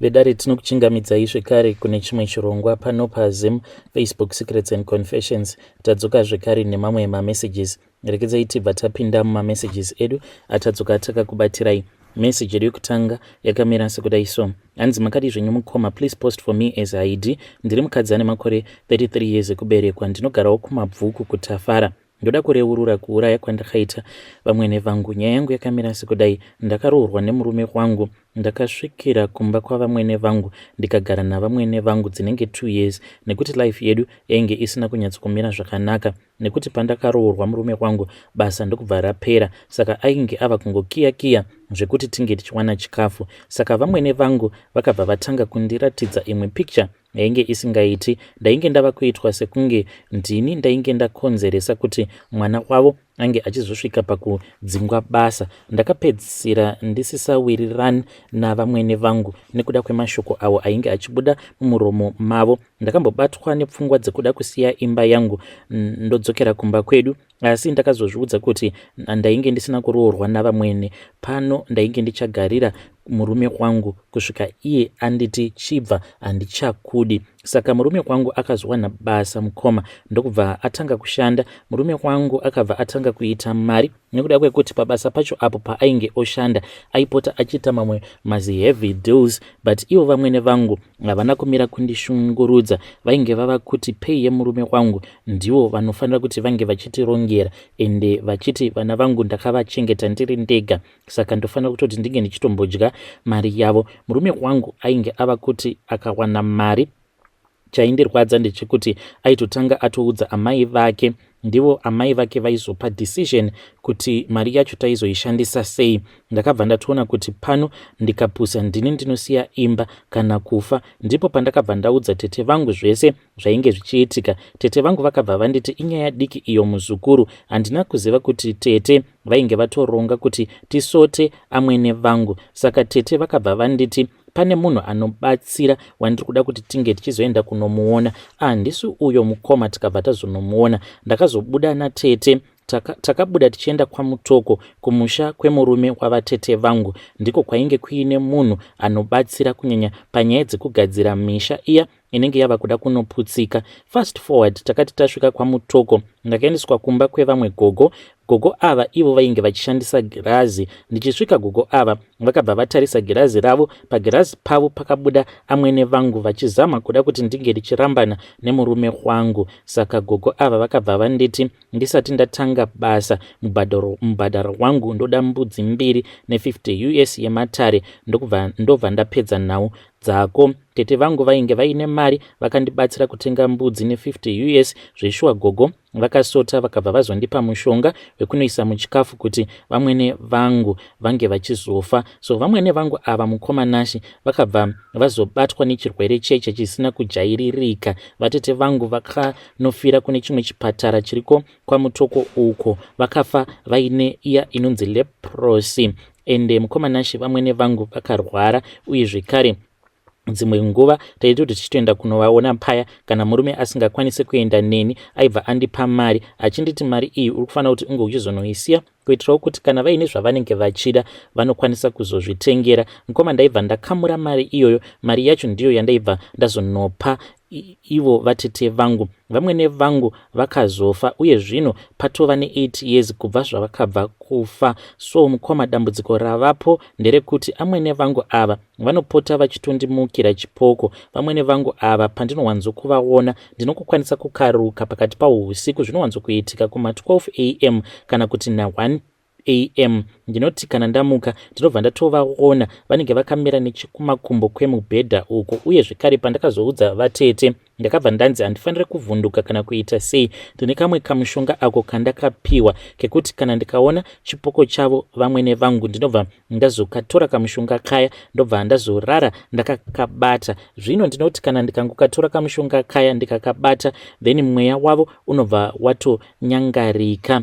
vedare tinokuchingamidzai zvekare kune chimwe chirongwa pano pazim facebook secrets and confessions tadzoka zvekare nemamwe mamessages rekedzai tibva tapinda mumamessages edu atadzoka takakubatirai message yedu yekutanga yakamira sekudai so hanzi makadi zvenyu mukoma please post for me as id ndiri mukadzi ane makore 33 years ekuberekwa ndinogarawo kumabvuku kutafara ndoda kureurura kuuraya kwandakaita vamwene vangu nyaya yangu yakamira sekudai ndakaroorwa nemurume wangu ndakasvikira kumba kwavamwene vangu ndikagara navamwene vangu dzinenge two years nekuti life yedu yainge isina kunyatsokumira zvakanaka nekuti pandakaroorwa murume wangu basa ndokubva rapera saka ainge ava kungokiya kiya zvekuti tinge tichiwana chikafu saka vamwene vangu vakabva vatanga kundiratidza imwe picture yainge isingaiti ndainge ndava kuitwa sekunge ndini ndainge ndakonzeresa kuti mwana wavo ange achizosvika pakudzingwa basa ndakapedzisira ndisisawirirani navamwene vangu nekuda kwemashoko avo ainge achibuda mumuromo mavo ndakambobatwa nepfungwa dzekuda kusiya imba yangu ndodzokera kumba kwedu Asi ndakazozviudza kuti ndainge ndisina kuroorwa navamwene, pano ndainge ndichagarira murume wangu kusvika iye anditi chibva handichakudi. Saka murume wangu akazowana basa mukoma ndokubva atanga kushanda. Murume wangu akabva atanga kuita mari nekuda kwekuti pabasa pacho apo paainge oshanda aipota achiita mamwe maziheavy deals but ivo vamwene vangu havana kumira kundishungurudza vainge vava kuti pei yemurume wangu ndivo vanofanira kuti vange vachitirongera ende vachiti vana vangu ndakavachengeta ndiri ndega saka ndofanira kutoti ndinge ndichitombodya mari yavo murume wangu ainge ava kuti akawana mari chaindirwadza ndechekuti aitotanga atoudza amai vake ndivo amai vake vaizopa decision kuti mari yacho taizoishandisa sei ndakabva ndatoona kuti pano ndikapusa ndini ndinosiya imba kana kufa ndipo pandakabva ndaudza tete vangu zvese zvainge zvichiitika tete vangu vakabva vanditi inyaya diki iyo muzukuru handina kuziva kuti tete vainge vatoronga kuti tisote amwene vangu saka tete vakabva vanditi pane munhu anobatsira wandiri kuda kuti tinge tichizoenda kunomuona handisi ah, uyo mukoma tikabva tazonomuona ndakazobuda natete takabuda taka tichienda kwamutoko kumusha kwemurume wavatete vangu ndiko kwainge kuine munhu anobatsira kunyanya panyaya dzekugadzira misha iya inenge yava kuda kunoputsika fast forward takati tasvika kwamutoko ndakaendeswa kumba kwevamwe gogo gogo ava ivo vainge vachishandisa girazi ndichisvika gogo ava vakabva vatarisa girazi ravo pagirazi pavo pakabuda amwene vangu vachizama kuda kuti ndinge ndichirambana nemurume wangu saka gogo ava vakabva vanditi ndisati ndatanga basa mubhadharo wangu ndoda mbudzi mbiri ne50 us yematare ndokubva ndobva ndapedza nhau dzako tete vangu vainge vaine mari vakandibatsira kutenga mbudzi ne50 us zveshuwa gogo vakasota vakabva vazondipa mushonga wekunoisa muchikafu kuti vamwene vangu vange vachizofa so vamwene vangu ava mukoma nashi vakabva vazobatwa nechirwere cheche chisina kujairirika vatete vangu vakanofira kune chimwe chipatara chiriko kwamutoko uko vakafa vaine iya inonzi leprosi ende mukoma Nashe vamwene vangu vakarwara uye zvekare dzimwe nguva taiti kuti tichitoenda kunovaona paya kana murume asingakwanise kuenda neni aibva andipa mari achinditi mari iyi uri kufanira kuti unge uchizonoisiya kuitirawo kuti kana vaine zvavanenge vachida vanokwanisa kuzozvitengera mukoma ndaibva ndakamura mari iyoyo mari yacho ndiyo yandaibva ndazonopa ivo vatete vangu vamwene vangu vakazofa uye zvino patova ne8 years kubva zvavakabva kufa so mukoma dambudziko ravapo nderekuti amwene vangu ava vanopota vachitondimukira chipoko vamwene vangu ava pandinowanzokuvaona ndinokukwanisa kukaruka pakati pahusiku zvinowanzokuitika kuma 12 am kana kuti na1 am ndinoti kana ndamuka ndinobva ndatovaona vanenge vakamira nechekumakumbo kwemubhedha uko uye zvekare pandakazoudza vatete ndakabva ndanzi handifanire kuvhunduka kana kuita sei ndine kamwe kamushonga ako kandakapiwa kekuti kana ndikaona chipoko chavo vamwene vangu ndinobva ndazokatora kamushonga kaya ndobva ndazorara ndakakabata zvino ndinoti kana ndikangokatora kamushonga kaya ndikakabata then mweya wavo unobva watonyangarika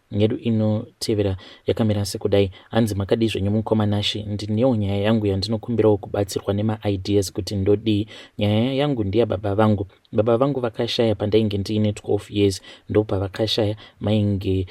yedu inotevera yakamira sekudai hanzi makadii zvenyu mukoma nashi ndinewo nyaya yangu yandinokumbirawo kubatsirwa nemaideas kuti ndodii nyaya yangu ndiya baba vangu baba vangu vakashaya pandainge ndiine 12 years ndopavakashaya mainge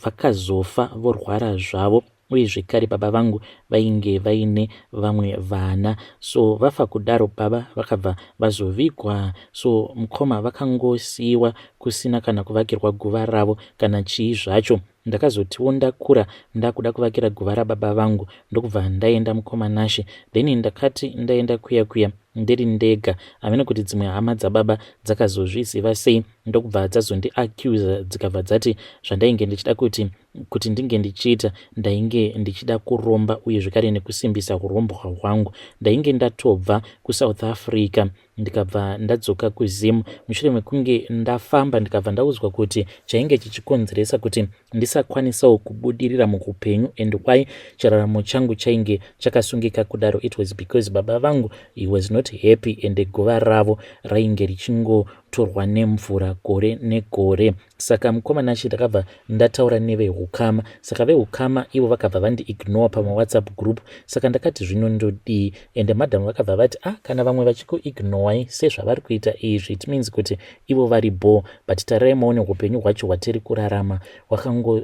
vakazofa vorwara zvavo uye zvekare baba vangu vainge vaine vamwe vana so vafa kudaro baba vakabva vazovigwa so mkoma vakangosiiwa kusina kana kuvakirwa guva ravo kana chii zvacho ndakazotiwo ndakura ndakuda kuvakira guva rababa vangu ndokubva ndaenda mkoma Nashe then ndakati ndaenda kuya kuya ndiri ndega amene kuti dzimwe hama dzababa dzakazozviziva sei ndokubva dzazondiaccuser dzikabva dzati zvandainge ndichida kuti kuti ndinge ndichiita ndainge ndichida kuromba uye zvekare nekusimbisa hurombwa hwangu ndainge ndatobva kusouth africa ndikabva ndadzoka kuzim mushure mekunge ndafamba ndikabva ndaudzwa kuti chainge chichikonzeresa kuti ndisakwanisawo kubudirira muupenyu and why chiraramo changu chainge chakasungika kudaro it was because baba vangu he was not happy and guva ravo rainge richingotorwa nemvura gore negore Saka mukoma Nashe ndakabva ndataura nevehukama saka vehukama ivo vakabva vandiignore pamawhatsapp group saka ndakati zvino ndodii ende madam vakabva vati ah kana vamwe vachikuignowai sezvavari kuita izvi it means kuti ivo vari bhoo but tarai maone upenyu hwacho hwatiri kurarama hwakango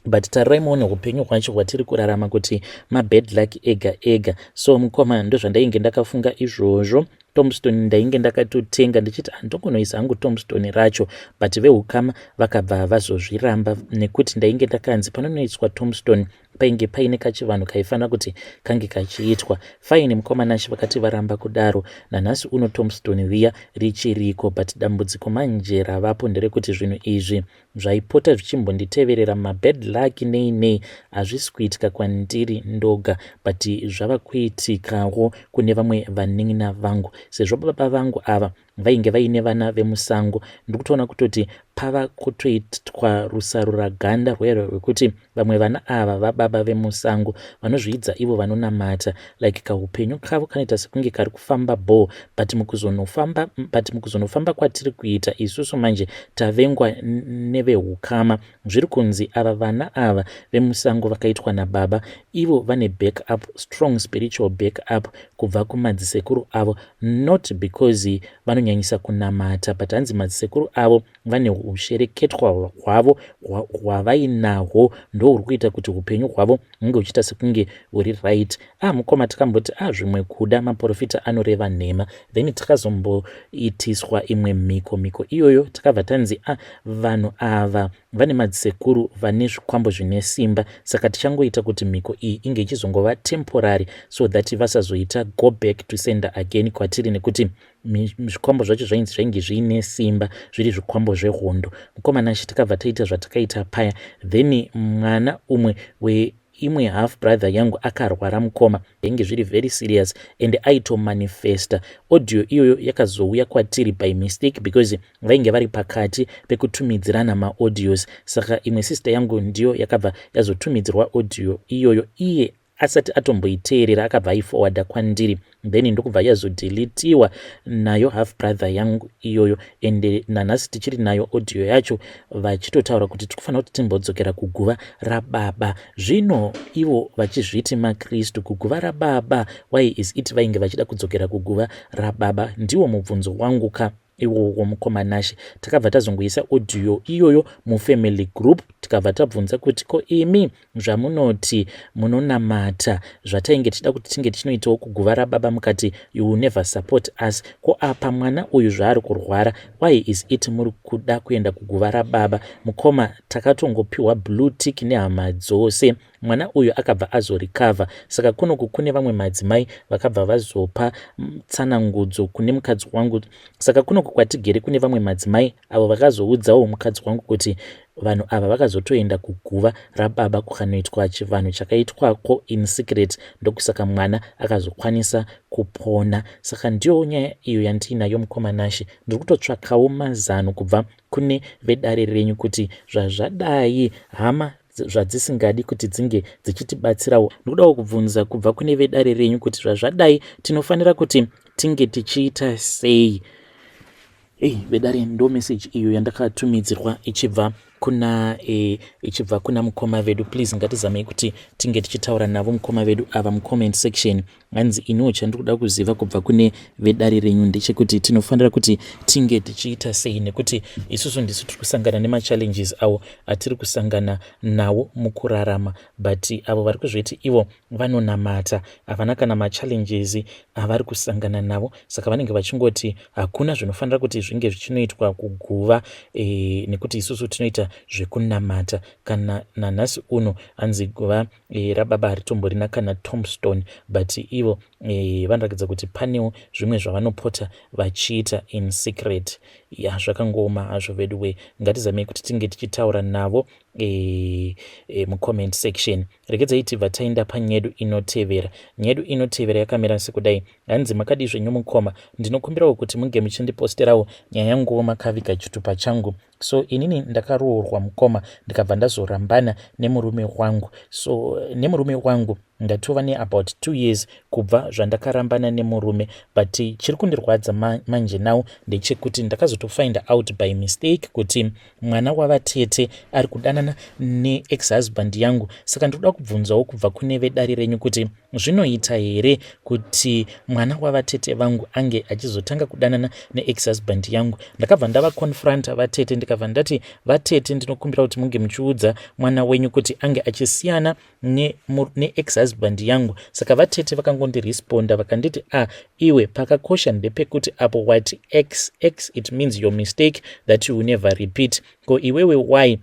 but tarirai muone upenyu hwacho hwatiri kurarama kuti mabad luck ega ega so mukoma ndozvandainge ndakafunga izvozvo tombstone ndainge ndakatotenga ndichiti handongonoisa hangu tombstone racho but veukama vakabva vazozviramba nekuti ndainge ndakanzi panonoiswa tombstone painge paine kachivanhu kaifanira kuti kange kachiitwa faini mukomanashe vakati varamba kudaro nanhasi uno tombstone viya richiriko but dambudziko manje ravapo nderekuti zvinhu izvi zvaipota zvichimbonditeverera mabad luck nei nei hazvisi kuitika kwandiri ndoga but zvava kuitikawo kune vamwe vanin'ina vangu sezvo baba vangu ava vainge vaine vana vemusango ndiri kutoona kutoti pava kutoitwa rusarura ganda rwekuti Vamwe vana ava vababa vemusango vanozviidza ivo vanonamata like kahupenyu kavo kanoita sekunge kari kufamba bho but mukuzonofamba but mukuzonofamba kwatiri kuita isusu manje tavengwa nevehukama zviri kunzi ava vana ava vemusango vakaitwa nababa ivo vane back up strong spiritual back up kubva kumadzisekuru avo not because vanonyanyisa kunamata but hanzi madzisekuru avo vane ushereketwa hwavo hwavainahwo ndo huri kuita kuti upenyu hwavo hunge uchiita sekunge huri right a ah, mukoma tikamboti a ah, zvimwe kuda maprofita anoreva nhema then tikazomboitiswa imwe mhiko mhiko iyoyo tikabva tanzi a ah, vanhu ava vane madzisekuru vane zvikwambo zvine simba saka tichangoita kuti mhiko iyi inge ichizongova temporary so that vasazoita go back to sender again kwatiri nekuti zvikwambo zvacho zvainzi zvainge zviine simba zviri zvikwambo zvehondo mukomana achi tikabva taita zvatakaita paya then mwana umwe weimwe half brother yangu akarwara mukoma zvainge zviri very serious and aitomanifesta audio iyoyo yakazouya kwatiri by mistake because vainge vari pakati pekutumidzirana maaudios saka imwe sister yangu ndiyo yakabva yazotumidzirwa audio iyoyo iye asati atomboiteerera akabva aifowadha kwandiri then ndokubva yazodilitiwa nayo half brother yangu iyoyo ende nanhasi tichiri nayo audio yacho vachitotaura kuti tiri kufanira kuti timbodzokera kuguva rababa zvino ivo vachizviti makristu kuguva rababa why is it vainge vachida kudzokera kuguva rababa ndiwo mubvunzo wangu ka iwowo mukoma nashe takabva tazongoisa audio iyoyo mufamily group tikabva tabvunza kuti ko imi zvamunoti munonamata zvatainge tichida kuti tinge tichinoitawo kuguva rababa mukati you will never support us ko apa mwana uyu zvaari kurwara why is it muri kuda kuenda kuguva rababa mukoma takatongopiwa blue tick nehama dzose mwana uyu akabva azorikavha saka kunoku kune vamwe madzimai vakabva vazopa mm, tsanangudzo kune mukadzi wangu saka kunoku kwatigere kune vamwe madzimai avo vakazoudzawo mukadzi wangu kuti vanhu ava vakazotoenda kuguva rababa kukanoitwa chivanhu chakaitwako in secret ndokusaka mwana akazokwanisa kupona saka ndiyo nyaya iyo yandiinayo mukomanashe ndiri kutotsvakawo mazano kubva kune vedare renyu kuti zvazvadai hama zvadzisingadi kuti dzinge dzichitibatsirawo ndokudawo kubvunza kubva kune vedare renyu kuti zvazvadai tinofanira kuti tinge tichiita sei ei vedare ndo meseji iyo yandakatumidzirwa ichibva kuna e, ichibva kuna mukoma vedu please ngatizamei kuti tinge tichitaura navo mukoma vedu ava mucomment section hanzi iniwo chandiri kuda kuziva kubva kune vedare renyu ndechekuti tinofanira kuti tinge tichiita sei nekuti isusu ndisu tiri kusangana nemachallenges awo atiri kusangana nawo mukurarama but avo vari kuzviti ivo vanonamata havana kana machallenges avari kusangana navo saka vanenge vachingoti hakuna zvinofanira kuti zvinge zvichinoitwa kuguva e, nekuti isusu tinoita zvekunamata kana nanhasi uno hanzi guva e, rababa haritomborina kana tomstone but ivo e, vanoratidza kuti panewo zvimwe zvavanopota vachiita in secret ya zvakangooma hazvo vedu wee ngatizamei kuti tinge tichitaura navo e, e, mucomment section regedzai tibva taenda panyedu inotevera nyedu inotevera yakamira sekudai hanzi makadizve nyomukoma ndinokumbirawo kuti munge muchindiposterawo nyaya yanguwo makaviga chitupa changu so inini ndakaroorwa mukoma ndikabva ndazorambana nemurume wangu so nemurume wangu ndatova neabout two years kubva zvandakarambana nemurume but chiri kundirwadza manje now ndechekuti ndakazotofind out by mistake kuti mwana wavatete ari kudanana neex husband yangu saka ndiri kuda kubvunzawo kubva kune vedare renyu kuti Zvinoita here kuti mwana wavatete vangu ange achizotanga kudanana neex husband yangu? Ndakabva ndava confronta vatete ndikabva ndati, vatete ndinokumbira kuti munge muchiudza mwana wenyu kuti ange achisiyana neex husband yangu. Saka vatete vakangondiresponda vakanditi, ah iwe pakakosha ndepekuti apo wati ex ex it means your mistake that you never repeat. Ko iwewe why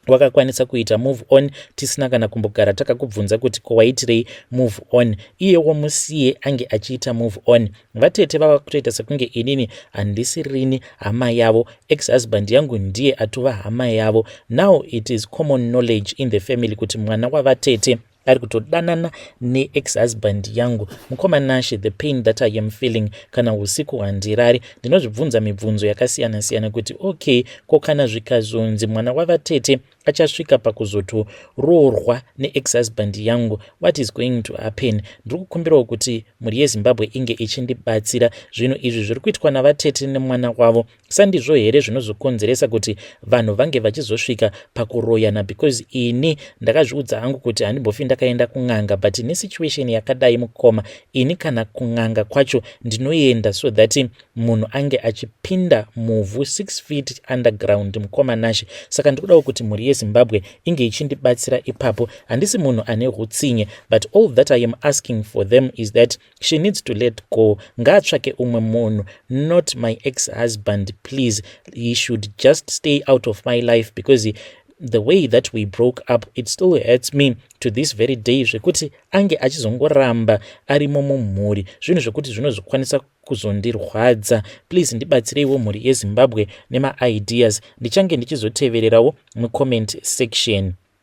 wakakwanisa kuita move on tisina kana kumbogara takakubvunza kuti ko waitirei move on iyewo musiye ange achiita move on vatete vava kutoita sekunge inini handisi rini hama yavo ex husband yangu ndiye atova hama yavo now it is common knowledge in the family kuti mwana wavatete ari kutodanana neex husband yangu mukoma nashe the pain that i am feeling kana usiku handirari ndinozvibvunza mibvunzo yakasiyana siyana kuti okay ko kana zvikazonzi mwana wavatete achasvika pakuzotoroorwa neex husband yangu what is going to happen ndiri kukumbirawo kuti mhuri yezimbabwe inge ichindibatsira zvinhu izvi zviri kuitwa navatete nemwana wavo Sandizvo here zvinozokonzeresa kuti vanhu vange vachizosvika pakuroyana because ini ndakazviudza hangu kuti handimbofi ndakaenda kun'anga but nesituation yakadai mukoma ini kana kun'anga kwacho ndinoenda so that munhu ange achipinda muvhu 6 feet underground mukoma nashe saka ndikudawo kuti mhuri yezimbabwe inge ichindibatsira ipapo handisi munhu ane hutsinye but all that i am asking for them is that she needs to let go ngaatsvake umwe munhu not my ex husband please he should just stay out of my life because he, the way that we broke up it still hurts me to this very day zvekuti ange achizongoramba arimo mumhuri zvinhu zvekuti zvinozokwanisa kuzondirwadza please ndibatsireiwo mhuri yezimbabwe nemaideas ndichange ndichizotevererawo mucomment section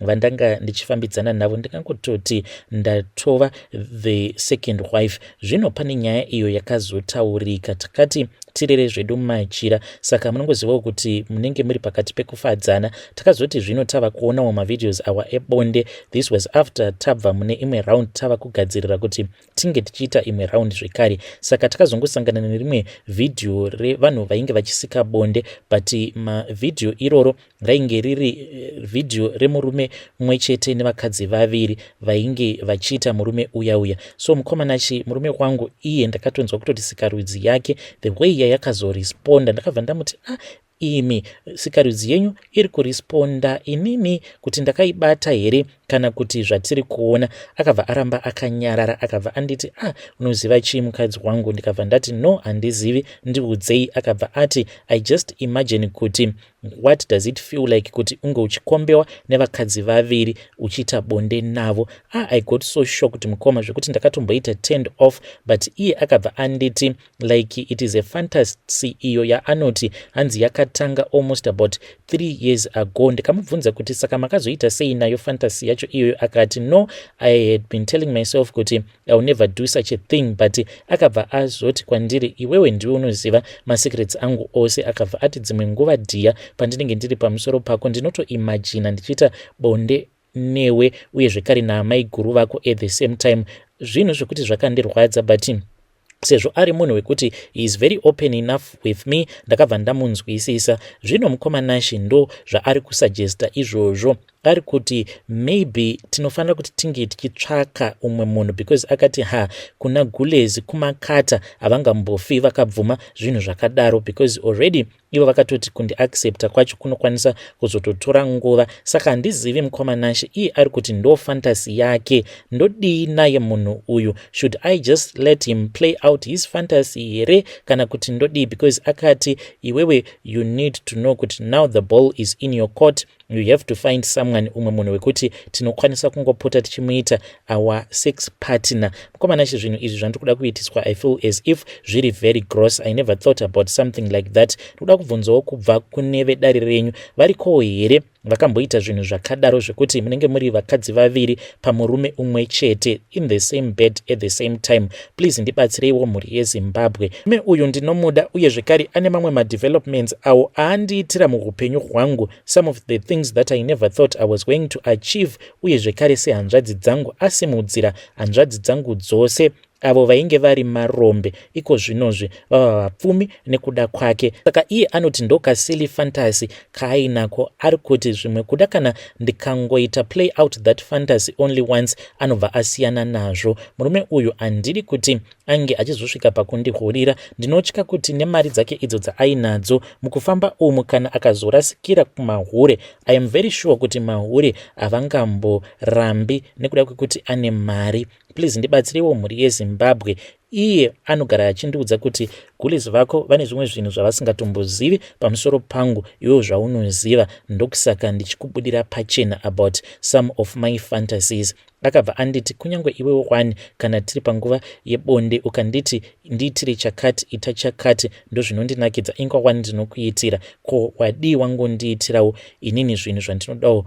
vandanga ndichifambidzana navo ndingangototi ndatova the second wife zvino pane nyaya iyo yakazotaurika takati tirere zvedu machira saka munongozivawo kuti munenge muri pakati pekufadzana takazoti zvino tava kuonawo mavideos awa ebonde this was after tabva mune imwe round tava kugadzirira kuti tinge tichiita imwe round zvekare saka takazongosangana nerimwe vhidhiyo revanhu vainge vachisika bonde but mavhidhiyo iroro rainge riri eh, vhidhiyo remurume mumwe chete nevakadzi vaviri vainge vachiita murume uya uya so mukomana chi murume wangu iye ndakatonzwa kutoti sikarudzi yake the way yayakazoresponda ndakabva ndamuti ah Imi sikarudzi yenyu iri kuresponda inini kuti ndakaibata here kana kuti zvatiri kuona. Akabva aramba akanyarara akabva anditi a ah, unoziva chii mukadzi wangu ndikabva ndati no handizivi ndiudzei. Akabva ati I just imagine kuti what does it feel like kuti unge uchikombewa nevakadzi vaviri uchiita bonde navo. A ah, I got so shocked mukoma zvekuti ndakatomboita turned off but iye akabva anditi like it is a fantasy iyo yaanoti hanzi yakatanga almost about three years ago ndikamubvunza kuti saka makazoita sei nayo fantasy yacho iyoyo akati no i had been telling myself kuti iwill never do such a thing but akabva azoti kwandiri iwewe ndiwe unoziva masecrets angu ose akabva ati dzimwe nguva dhiya pandinenge ndiri pamusoro pako ndinotoimajina ndichiita bonde newe uye zvekare naamaiguru vako at the same time zvinhu zvekuti zvakandirwadza but sezvo ari munhu wekuti heis very open enough with me ndakabva ndamunzwisisa zvino mukoma nashi ndo zvaari kusuggesta izvozvo ari kuti maybe tinofanira kuti tinge tichitsvaka umwe munhu because akati ha kuna gulezi kumakata havangambofi vakabvuma zvinhu zvakadaro because already ivo vakatoti kundiaccepta kwacho kunokwanisa kuzototora nguva saka handizivi mukoma nashe iye ari kuti ndo fantasy yake ndodii naye munhu uyu should i just let him play out his fantasy here kana kuti ndodii because akati iwewe you need to know kuti now the ball is in your court you have to find someone umwe munhu wekuti tinokwanisa kungopota tichimuita our sex partner mukomana chi zvinhu izvi zvandiri kuda kuitiswa i feel as if zviri very gross i never thought about something like that ndikuda kubvunzawo kubva kune vedare renyu varikowo here vakamboita zvinhu zvakadaro zvekuti munenge muri vakadzi vaviri pamurume umwe chete in the same bed at the same time Please ndibatsireiwo mhuri yeZimbabwe. Me uyu ndinomuda uye zvekare ane mamwe madevelopments awo aandiitira muhupenyu hwangu some of the things that I never thought I was going to achieve uye zvekare sehanzvadzi dzangu asimudzira hanzvadzi dzangu dzose avo vainge vari marombe iko zvinozvi vava vapfumi nekuda kwake saka iye anoti ndokasily fantasy kaainako ari kuti zvimwe kuda kana ndikangoita play out that fantasy only once anobva asiyana nazvo murume uyu handidi kuti ange achizosvika pakundihurira ndinotya kuti nemari dzake idzo dzaainadzo mukufamba umu kana akazorasikira kumahure i am very sure kuti mahure havangamborambi nekuda kwekuti ane mari please ndibatsirewo mhuri yezimbabwe Iye anogara achindiudza kuti gules vako vane zvimwe zvinhu zvavasingatombozivi pamusoro pangu iwo zvaunoziva ndokusaka ndichikubudira pachena about some of my fantasies akabva anditi kunyange iwe wani kana tiri panguva yebonde ukanditi ndiitire chakati ita chakati ndozvinondinakidza ingwa wani ndinokuitira ko wadii wangondiitirawo inini zvinhu zvandinodawo